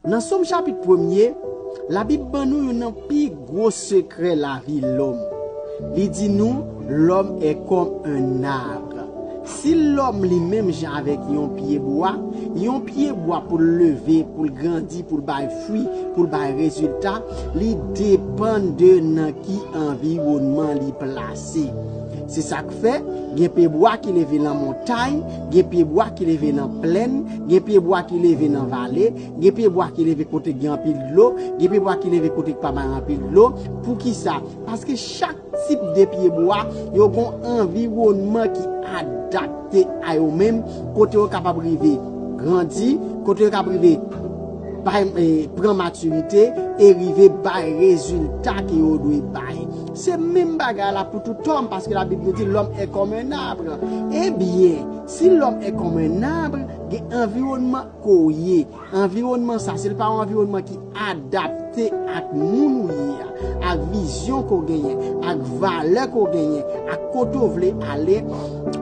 Nan Som chapit premye, Labib ban nou youn nan pi gwo sekrè lavi lòm. Li di nou, Lòm è kòm un arbre. Si lòm li menm jan avèk yon pyebwa, yon pyebwa pou l leve, pou l grandi, pou l bay fwi, pou l bay rezilta, li depann de nan ki anviwònman li plase. Se sa. ap fè, gen pyebwa ki leve nan montay, gen pyebwa ki leve nan plenn, gen pyebwa ki leve nan vale, gen pyebwa ki leve kote k gen anpil dlo, gen pyebwa ki leve kote k pa bay anpil dlo. Poukisa? Paske chak tip de pyebwa, yo gon anviwònman ki adapte a yo menm, kote yo kapab rive grandi, kote yo kapab rive bay, pran matirite e rive bay rezilta ke yo dwe bay. Se menm bagay la pou tout òm, paske Labib nou di lòm è kòm un arbre. Ebyen, si lòm è kòm un arbre, gen anviwònman ke w ye. Anviwònman sa, si l pa yon anviwònman ki adapte ak moun ou ye a, ak vizyon ke w genyen, ak valè ke w genyen, ak kote w vle ale,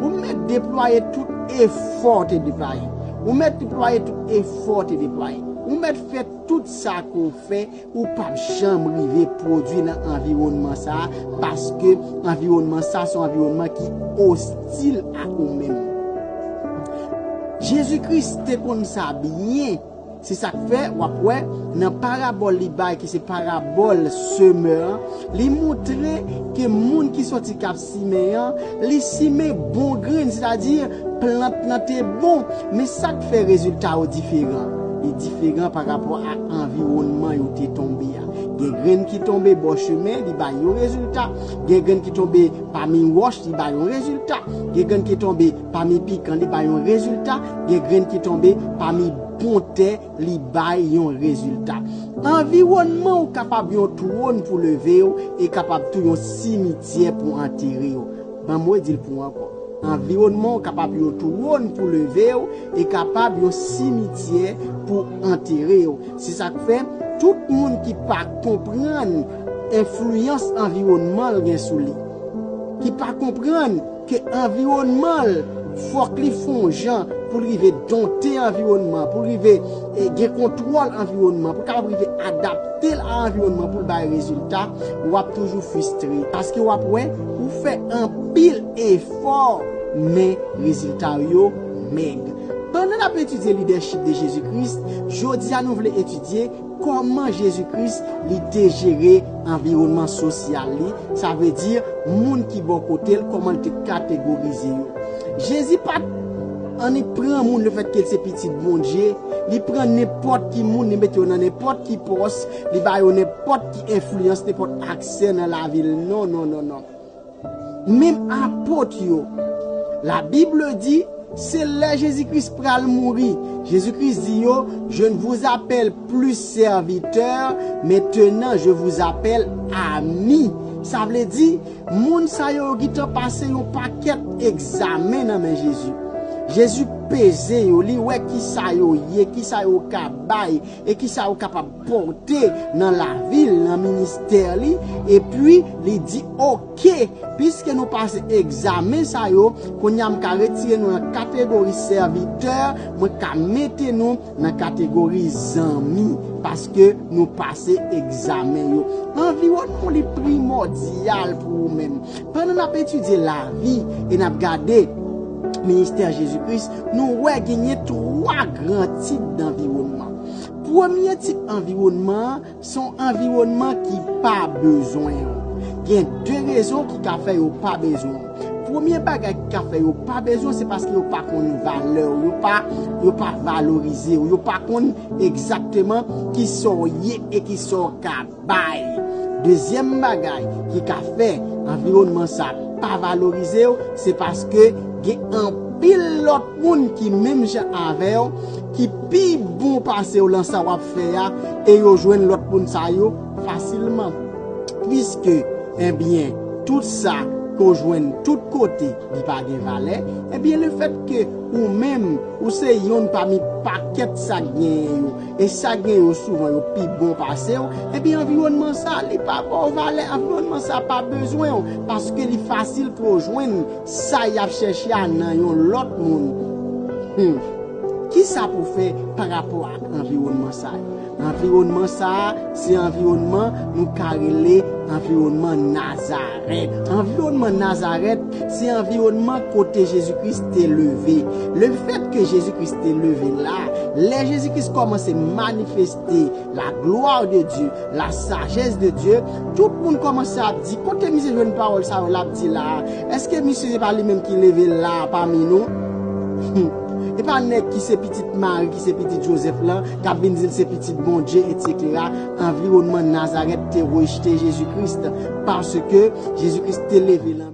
ou mèt deplwaye tout efò w te deplwaye. Ou mèt deplwaye tout efò w te deplwaye. Ou mèt fè tout sa ke w fè. Ou pap janm rive pwodwi nan anviwònman sa a paske anviwònman sa a se yon anviwònman ki ostil ak ou menm. Jezi Kris te konn sa byen. Se sa k fè, w ap wè, nan parabòl li bay ki se parabòl semè an, li montre ke moun ki soti k ap. Simen an, li simen bon grenn, sètadi plant lan te bon. Men sa k fè rezilta yo diferan? Li diferan parapò a anviwònman yo te tonbe a. Gen grenn ki tonbe bò chemen, li bay yon rezilta. Gen grenn ki tonbe pami wòch, li bay yon rezilta. Gen grenn ki tonbe pami pikan, li bay yon rezilta. Gen grenn ki tonbe pami bon tè. li bay yon rezilta. Anviwònman ou kapab yon twòn pou leve yo e kapab tou yon simityè pou antere yo. Ban m redi l pou ou ankò. Anviwònman ou kapab yon twòn pou leve yo e kapab yon simityè pou antere yo. Se sa k fè, tout moun ki pa konprann enfliyans anviwònman l gen sou li, ki pa konprann, ke anviwònman l fòk li fon jan pou l rive donte anviwònman, pou l rive gen kontwòl anviwònman, pou l kapab rive adapte l a anviwònman pou l bay rezilta, w ap toujou fristre. Paske w ap wè, ou fè anpil efò, men rezilta w yo mèg. Pandan n ap etidye lidèchip de Jezi Kris, jodi a nou vle etidye. Kòman Jezi Kris li te jere anviwònman sosyal li, sa vle di, moun ki bò kote l, kòman l te kategorize yo? Jezi pa t annik pran moun lefètke l se Pitit Bondye, li pran nenpòt ki moun, li mete yo nan nenpòt ki pòs, li ba yo nenpòt ki enfliyans, nenpòt aksè nan lavi l. Non, non, non, non! Menm apot yo. La Bible di, se lè Jezi Kris pral mouri, Jezi Kris di yo, je ne vous appelle plus serviteur, maintenant je vous appelle ami. Sa vle di, moun sa yo yo gitan pase yon pakèt egzamen nan men Jezi. Jezi peze yo, li wè kisa yo ye, kisa yo ka bay, e kisa yo kapab. pote nan lavi l, nan ministè li, epi li di, ok, piske nou pase egzamen sa yo, kounye a m ka retire nou nan kategori sèvitè, mwen ka mete nou nan kategori zanmi, paske nou pase egzamen yo. Anviwònman w li primòdyal pou ou menm. Pandan n ap etidye lavi e n ap gade ministè Jezi Kris, nou wè genyen twa gran tip danviwònman. Premye tip anviwònman an se yon anviwònman ki pa bezwen ou. Gen de rezon ki ka fè yo pa bezwen ou. Premye bagay ki ka fè yo pa bezwen ou se paske yo pa konn valè ou, yo pa valorize ou, yo pa konn egzakteman kisa w ye e kisa w ka. bay. Dezyèm bagay ki ka fè anviwònman sa pa valorize w, se paske gen anpil lòt moun ki menm jan avè w, ki pi bon pase w lan sa w ap fè a, e yo jwenn lòt moun sa yo fasilman. Piske, enbyen, tout sa ke w jwenn tout kote, li pa gen valè, enbyen lefètke ou menm, ou se yonn pami pakèt sa k genyen yo, E sa gen yo souvan yo pi bon pase w, epi anviwònman sa li pa ba w valè, anviwònman sa pa bezwen w, paske li fasil pou yo jwenn sa y ap chèche a nan yon lòt moun. Hum. Kisa pou w fè parapò ak anviwònman sa yo? Anviwònman sa a se anviwònman nou ka rele anviwònman Nazarèt. Anviwònman Nazarèt. Se anviwònman kote Jezi Kris te leve. Lefètke Jezi Kris te leve la, lè Jezi Kris kòmanse manifeste la glwa de Dye, la sajès de Dye, tout moun kòmanse ap di, Kote misye jwenn pawòl sa yo l ap di la a? Èske misye se pa li menm ki leve l la a pami nou? Hum! E pa nèg ki se pitit Mari, ki se pitit Jozèf lan, k ap vin di l se Pitit Bondye, etsetera? Anviwònman Nazarèt te rejte Jezi Kris paske Jezi Kris te leve nan.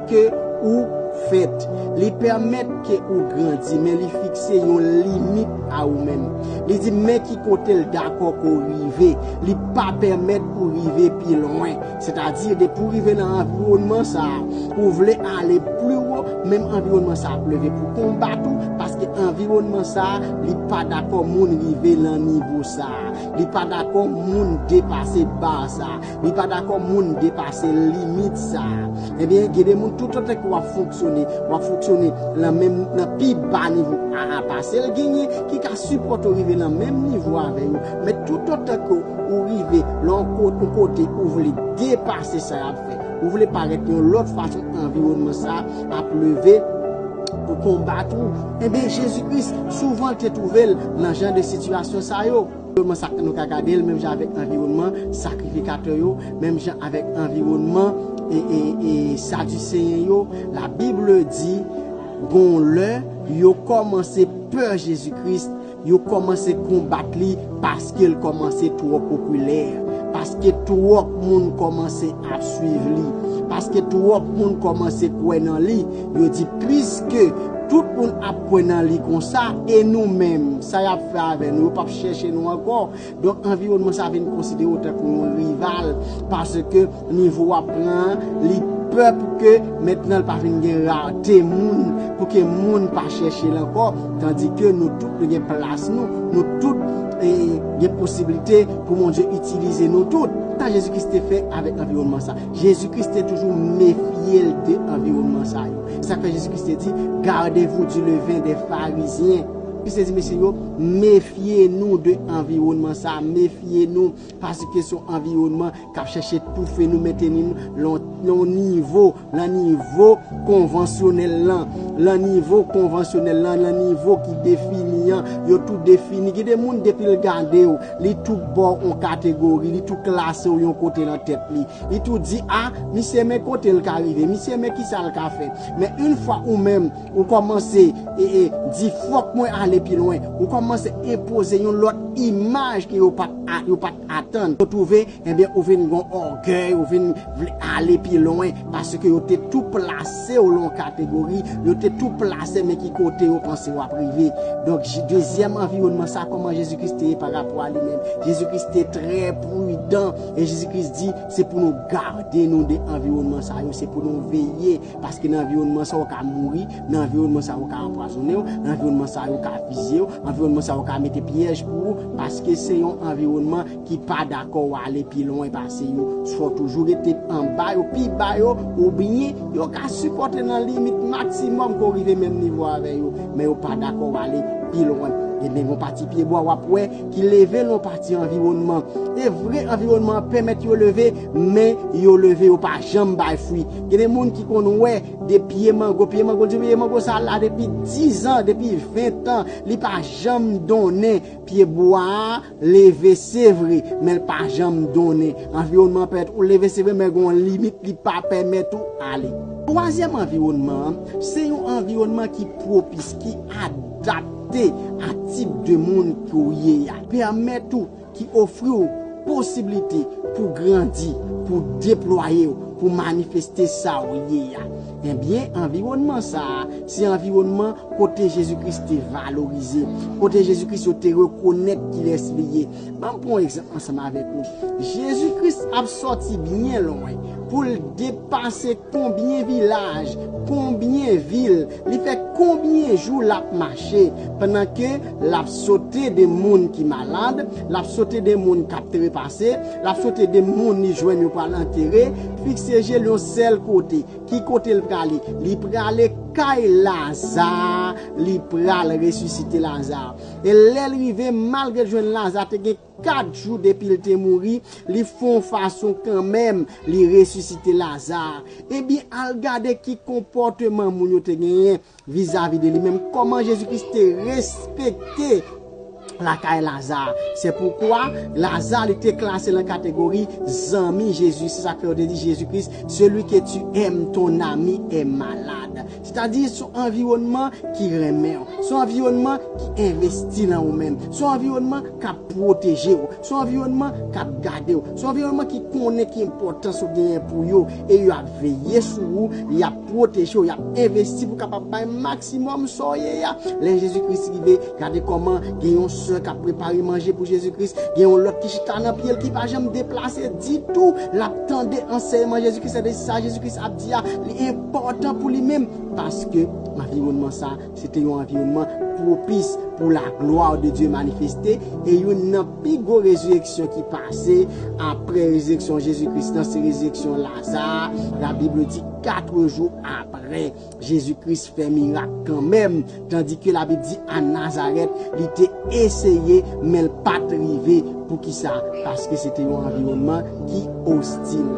ke ou fèt. Li pèmèt ke ou grandi, men li fikse yon limit a ou menm. Li di men ki kote l dakò ke w rive. Li pa pèmèt ou rive pi lwen. Sètadi, depi ou rive nan anviwònman sa a, ou vle ale pli wo, menm anviwònman sa a ap leve pou konbat ou, paske anviwònman sa a, li pa dakò moun rive nan nivo sa a. Li pa dakò moun depase bar sa a. Li pa dakò moun depase limit sa a. Ebyen, gen de moun toutotan ke w ap fonksyone, w ap fonksyone lan menm, lan pi ba nivo aa pase l, genyen ki ka sipòte w rive lan menm nivo avè yo. Men toutotan ke ou rive lan yon kote ou vle depase sa y ap fè, ou vle parèt yon lòt fason, anviwònman sa a ap leve pou konbat ou. Ebyen, Jezi Kris souvan te twouve l lan jan de sitiyasyon sa yo. Anviwònman sa nou ka gade l menm jan avèk anviwònman sakrifikatè yo, menm jan avèk anviwònman Sadiseyen yo. Labib di, Gen yon lè, yo kòmanse pè Jezi Kris, yo kòmanse konbat li paske l kòmanse twò popilè, paske twòp moun kòmanse ap suiv li, paske twòp moun kòmanse kwè nan li. Yo di piske tout moun ap kwè nan li konsa, e nou menm, sa y ap fè avè nou, yo p ap chèche nou ankò. Donk anviwònman sa vin konsidere w tankou yon rival, paske nivo w ap pran an, li pè pou ke mentnan l pa vin gen rarte moun, pou ke moun pa chèche l ankò, tandike nou tout nou gen plas nou, nou tout gen posiblite pou Bondye itilize nou tout. Sa Jezi Kris te fè avèk anviwònman sa. Jezi Kris te toujou mefye l de anviwònman sa yo. Se sa k fè Jezi Kris te di, Gardez-vous du levain des Pharisiens. Kris te di mesye yo, Mefye nou de anviwònman sa a, mefye nou paske se yon anviwònman k ap chèche toufe nou, menteni nou lan yon nivo, lan nivo konvansyonèl lan, lan nivo konvansyonèl lan, lan nivo ki defini an. Yo tou defini. Gen de moun depi l gade w. Li tou ba w yon kategori, li tou klase w yon kote nan tèt li. Li tou di, a, misye men kote l ka rive, misye men kisa l ka fè. Men yn fwa ou menm, ou kòmanse e, e, di fòk mwen ale pi lwen, ou kòmanse enpoze yon lòt imaj ke yo pa t a, yo pa t atann. Yo twouve Ebyen ou vin gon ògèy, ou vin vle ale pi lwen, paske yo te tou plase w lan yon kategori, yo te tou plase men ki kote yo panse w ap rive. Donk, dezyèm anviwònman sa, kòman Jezi Kris te ye pa rapò a li menm? Jezi Kris te trè pridan, e Jezi Kris di, se pou nou gade nou de anviwònman sa yo, se pou nou veye, paske nan anviwònman sa yo ka mouri, nan anviwònman sa yo ka anpwazonnen w, nan anviwònman sa yo ka fizye w, anviwònman sa yo ka mete pyèj pou ou, paske se yon anviwònman ki pa dakò ou ale pi lwen pase yo, swa ou toujou rete anba yo, pi ba yo, oubyen yo ka sipòte nan limit maksimòm ke ou rive menm nivo avè yo, men yo pa dakò ou ale pi lwen. Genben yon pati pyebwa w ap wè ki leve nan yon pati anviwònman. E vre anviwònman an pèmèt yo leve, men yo leve yo pa janm bay fwi. Genben moun ki konn wè de pye mango, pye mango, di pye mango sa la depi dizan, depi ventan, li pa janm donnen pyebwa a, leve se vre men l pa janm donnen anviwònman an pèmèt ou leve se vre men gen yon limit li pa pèmèt ou ale. Twazyèm anviwònman an se yon anviwònman ki pwopis, ki adapte a tip de moun ke w ye a, pèmèt ou, ki ofri w posiblite pou w grandi, pou w deplwaye w, pou w manifeste sa w ye a. Ebyen, anviwònman sa a, se anviwònman kote Jezi Kris te valorize, kote Jezi Kris yo te rekonèt kilès li ye. Ban m pran yon egzanp ansanm avèk ou. Jezi Kris ap sòti byen lwen pou l depase konbyen vilaj, konbyen vil, li fè konbyen jou l ap mache, pandan ke L ap sote de moun ki malad, l ap sote de moun k ap trepase, l ap sote de moun li jwenn yo pral antere, fikse je l yon sèl kote. Ki kote l prale? Li prale kay Laza, li pral resisite Laza. E lè l rive, malgre l jwenn Laza te gen kat jou depi l te mouri, li fè yon fason kanmenm li resisite Laza. Ebyen, al gade ki konpòteman moun yo te genyen. Vizavi de li menm, kòman Jezi Kris te respekte lakay Laza? Se poukwa, Laza li te klase lan kategori zanmi Jezi. Se sa k fè yo te di Jezi Kris, Celui que tu aimes, ton ami est malade. Sètadi, se yon anviwònman ki renmen w. Se yon anviwònman ki envesti lan ou menm. Se yon anviwònman k ap pwoteje w. Se anviwònman k ap gade w. Se anviwònman ki konnen ki enpòtans ou genyen pou yo e yo ap veye sou ou, y ap pwoteje w, y ap envesti pou w kapab bay maksimòm sa w ye a. Lè Jezi Kris rive, gade kòman gen yon sè k ap prepare manje pou Jezi Kris, gen yon lòt ki chita nan pye l ki pa janm deplase ditou, l ap tande ansèyman Jezi Kris, sèke sa Jezi Kris ap di a, li enpòtan pou li menm. Paske, anviwònman sa a Se te yon anviwònman pwopis pou laglwa de Dye manifeste, e youn nan pi gwo rezireksyon ki pase apre rezireksyon Jezi Kris lan se rezireksyon Laza a. Labib di, Katre jou apre, Jezi Kris fè mirak kanmenm, tandike Labib di a Nazarèt li te eseye, men l pa t rive. Poukisa? Paske se te yon anviwònman ki ostil.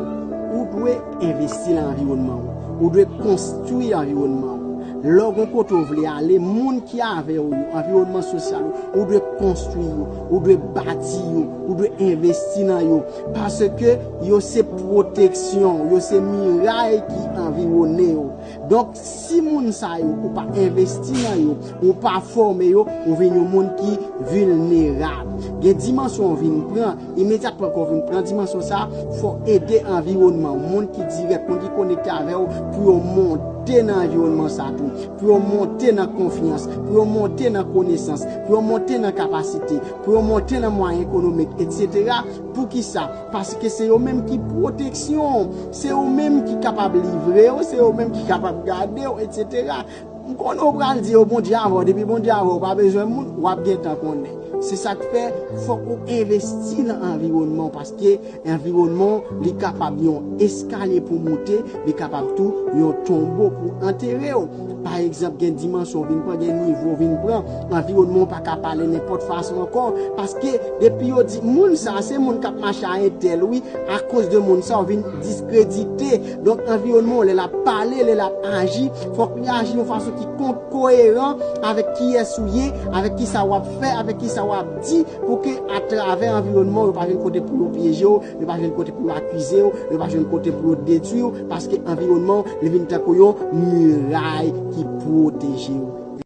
Ou dwe. Envesti nan anviwònman ou. Ou dwe konstwi anviwònman ou. Lè w gen kote w vle ale, moun ki avè w yo, anviwònman sosyal ou, ou dwe konstwi yo, ou dwe bati yo, ou dwe envesti nan yo. Paske yo se pwoteksyon w, yo se miray ki anviwone w. Donk, Si moun sa yo ou pa envesti nan yo, ou pa fòme yo, ou vin yon moun ki vilnerab. Gen dimansyon ou vin pran, imedyatman ke w vin pran dimansyon sa, fò w ede anviwònman, moun ki dirèk, moun ki konekte avè w, pou yo monte nan anviwònman sa tou, pou yo monte nan konfyans, pou yo monte nan konesans, pou yo monte nan kapasite, pou yo monte nan mwayen ekonomik, etc. Poukisa? Paske se yo menm ki pwoteksyon w, se yo menm ki kapab livre w, se yo menm ki kapab gade w, etsetera. M konnen w pral di yo Bondye avè w, depi Bondye avè w, ou pa bezwen moun, w ap gentan konnen. Se sa k fè, fòk ou envesti nan anviwònman w paske anviwònman w li kapab yon eskalye pou w moute, li kapab tou yon tonbo pou antere w. Pa egzanp, gen dimansyon w vin pran, gen nivo w vin pran, anviwònman w pa ka pale nenpòt fason ankò, paske depi yo di moun sa a se moun k ap mache a entèl wi, akoz de moun sa a w vin diskredite. Donk anviwònman w lè l ap pale, lè l ap aji, fòk li aji yon fason ki koyeran avèk kiyès ou ye, avèk kisa w ap fè, avèk kisa w ap di, pou ke atravè anviwònman w yo pa vin kote pou yo pyeje w, Yo pa jwenn kote pou yo akize w, yo pa jwenn kote pou yo detwi w, paske anviwònman w li vin tankou yon miray ki pwoteje w.